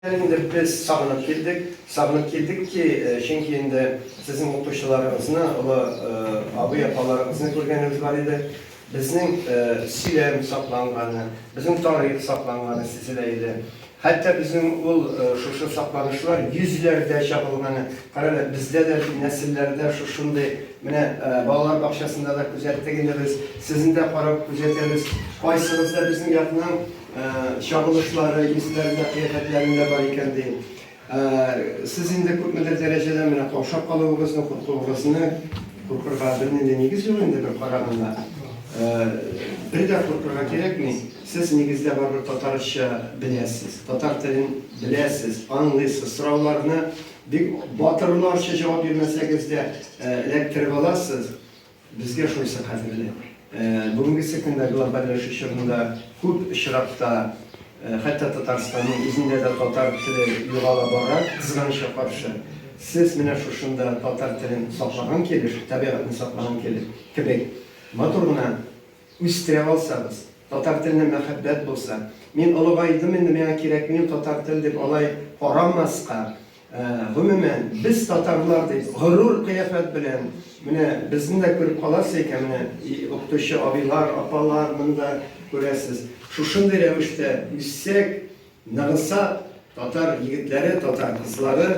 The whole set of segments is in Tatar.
Хәзер инде без сагынып килдек. Сагынып килдек ки, чөнки инде сезнең укучыларыгызны, олы абый-апаларыгызны күргәнебез бар иде. Безнең сөйләм сакланганы, безнең тарих сакланганы сизелә иде. Хәтта безнең ул шушы сакланышлар йөзләрдә чагылганы, кара әле, бездә дә нәселләрдә шушындый, менә балалар бакчасында да күзәттек инде без, сезне дә карап күзәтәбез, кайсыгыз да безнең якның, Чагылышлары, исләрендә, кыяфәтләрендә бар икән, ди. Сез инде күпмедер дәрәҗәдә менә каушап калуыгызны, куркуыгызны, куркырга бернинди нигез юк инде бер караганда. Бер дә куркырга кирәкми. Сез нигездә барыбер татарча беләсез, татар телен беләсез, аңлыйсыз, сорауларны бик батырларча җавап бирмәсәгез дә эләктереп аласыз. Безгә шунысы кадерле, бүгенге секундта глобальләшү чорында күп очракта, хәтта Татарстанның үзендә дә татар теле югала бара, кызганычка каршы. Сез менә шушында татар телен саклаган кебек, табигатьне саклаган кебек, кебек матур гына үстерә алсагыз, татар теленә мәхәббәт булса, мин олыгайдым инде, миңа кирәкми ул татар тел дип алай карамаска, Гомумән, без татарлар дип горур кыяфәт белән, менә безне дә күреп каласы икән, менә укытучы абыйлар, апалар монда күрәсез. Шушындый рәвештә үссәк, ныгысак, татар егетләре, татар кызлары,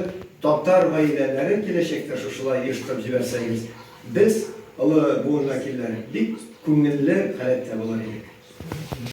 татар гаиләләре киләчәктә шушылай оештырып җибәрсәгез, без, олы буын вәкилләре, бик күңелле халәттә булыр идек.